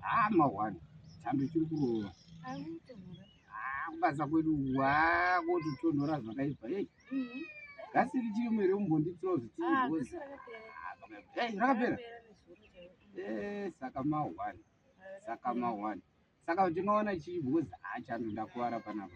Ah, mahwani chando chiri kurova ah, kubasa kwedu wa kototonhora zvakaipa ei mhm. gasi richiri mhere umbonditirawo zvitiirozi ei rakapera e saka mahwani saka mahwani saka tingaona chii because hachando ndakuvara panapa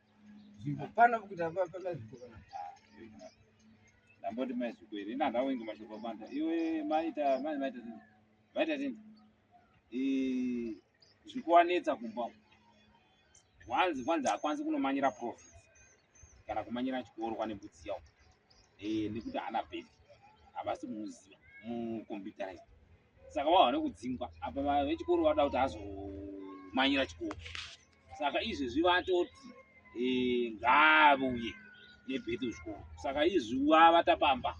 Zimbo pana kuda baba pana zimbo kana. Ndamboti mai zimbo iri na ndawo inga mashoko manda. Iwe maita mai maita zimbo. Maita zimbo. Eh zvikuwanetsa kumba. Wanzi kwanzi akwanzi kunomanyira profit. Kana kumanyira chikoro kwane butsi yawo. Eh nekuti ana baby. Abasi muzi mu computerized. saka wava nekudzingwa apa vechikoro vada kuti azomanyira chikoro saka izvezvi vatoti eh, ngaavuye nebheti kuzvikoro saka izvi wava tapamba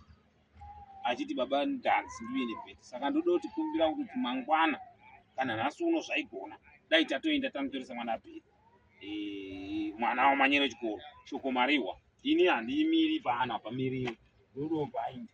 achiti baba ndanzi ndiuye nebheti saka ndoda kuti kumbira kuti mangwana kana nhasi uno zvaigona dai tatoenda tanotoresa mwana bheti eh, mwana wamanyira chikoro shoko mariwa ini handiimiri paana pamiriwo ndodombaindi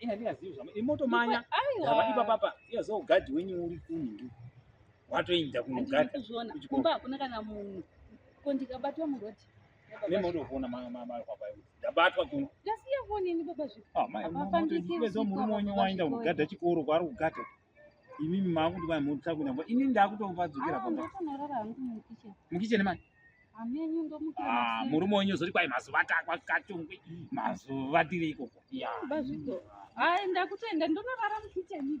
Ina ndina zivi zvama imoto manya. Ndaba ipa papa. Iya zo guard wenyu uri kunhu. Watoinda kuno guard. Kumba hakuna kana munhu. Ko ndikabatwa muroad. Mimi ndo kuona mama mama kwa kwa. Ndabatwa kuno. Ndasiya kuona ni baba zvipi. Ah, mama. Mama ndo murume wenyu waenda kugada chikoro kwari kugada. imimi makuti vanhu mutsa kuenda kwa ini ndakutopadzokera pamba mukicheni mani ah, murume wenyu zoti kwai mazuva atakakatongwi mazuva tiri ikoko ndakutoenda ndonorara mukicheni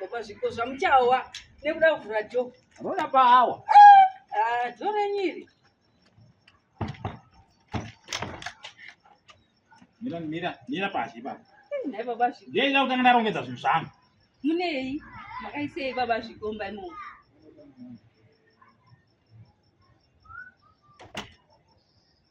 baba zviko zvamuchawa nekuda kuvhura jo rona paawa ah, jo renyiri mira mira mira pasi pa nai baba zviko ndiye ida kutanga ndarongedza zvinhu zvangu munei makaisei baba zvikomba imomo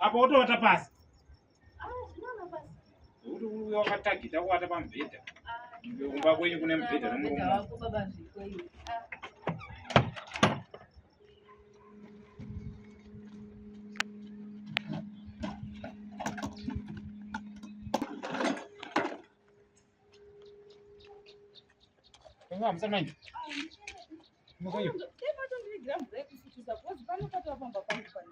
apa wotovata pasi kuti uya wakatagita kuwata pamubhedha kumba kwenyu kune mubhedha nomurume Vamos, Armando.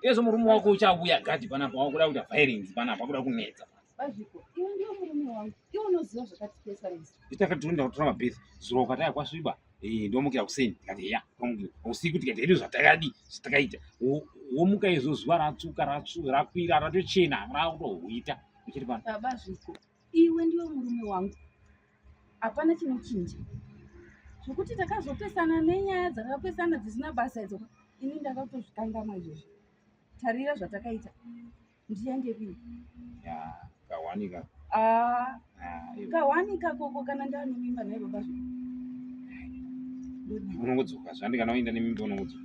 Yesu murume wako uchavuya gadi panapa wakuda kuita violence panapa wakuda kunetsa. Bazviko, iwe ndiwe murume wangu. Iwe unoziva zvakati pesa rese. Nditakatunda kutora mabhesi zuro ukataya kwasviba. Eh, ndomukira kuseni tikati heya, ndomukira. Usiku tikati hedu zvatakadi, zvatakaita. Womuka izvo zuva ratsuka, ratsu, rakwira, ratochena, rakutohuita. Uchiri pano. Baba zviko. iwe ndiwe murume wangu hapana chinochinja zvekuti takazopesana nenyaya dzakapesana dzisina basa idzo ini ndakatozvikangama izvozvo tarira zvatakaita ndiende kii kawanika ah, ah, kawanika koko kana ndanomimba naye baba zvo unongodzoka zvandikana waenda nemimba unongodzoka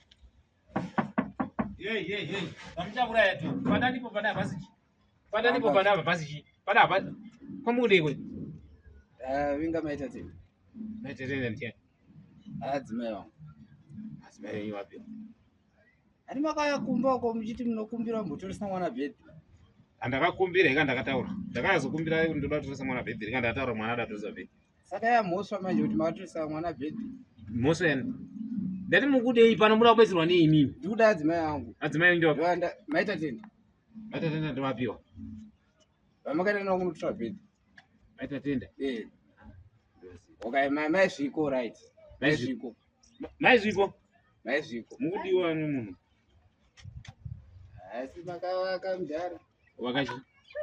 Hey, hey, hey. Vamuchauraya tu. Pada ndipo pada basi. Pada ndipo pada basi. Pada basi. Kwa mude we. Eh, winga maita ti. Maita tena ntia. Adzimeyo. Adzimeyo ni wapi? Ani makaya kumba uko mchiti mnokumbira mbotoresa mwana bed. Andakakumbira ikandakataura. Ndakazokumbira ndoda kutoresa mwana bed. Ikandakataura mwana adatoza bed. saka yamhosva manje kuti makatorisa mwana bhedhi mhosva yani ndati mukudei pano muda kubetserwa neinini ndikuda adzimai angu adzimai angu ndovapi maita tenda maita tenda ndovapiwa vamakaita navo kunotora bhedhi maita tenda eh. okay mai zviko right mai zviko mai zviko mai zviko mukudiwa ani munhu asi makavaka mudhara wakachi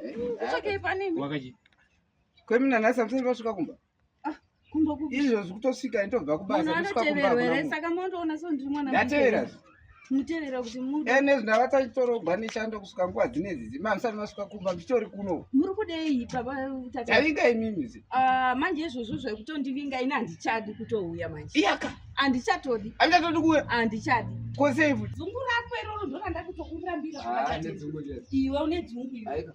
eh, wakachi kwemina nhasi hamusati vasvika kumba ah, izvo zvikutosvika nditobva kubasaatevera mutevera kuti ene zvindavataitorogwa nechando kusvika nguva dzine dzizi mamusati masvika kumba mbitori kuno muri kudei pabavinga imimi ah, manje izvozvo zvekutondivinga ini handichadi kutouya manje iyaka handichatodi handichatodi kuuya handichadi kosei futi dzungu rako iroro ndoranda kutokurambira ah, iwe une dzungu iwe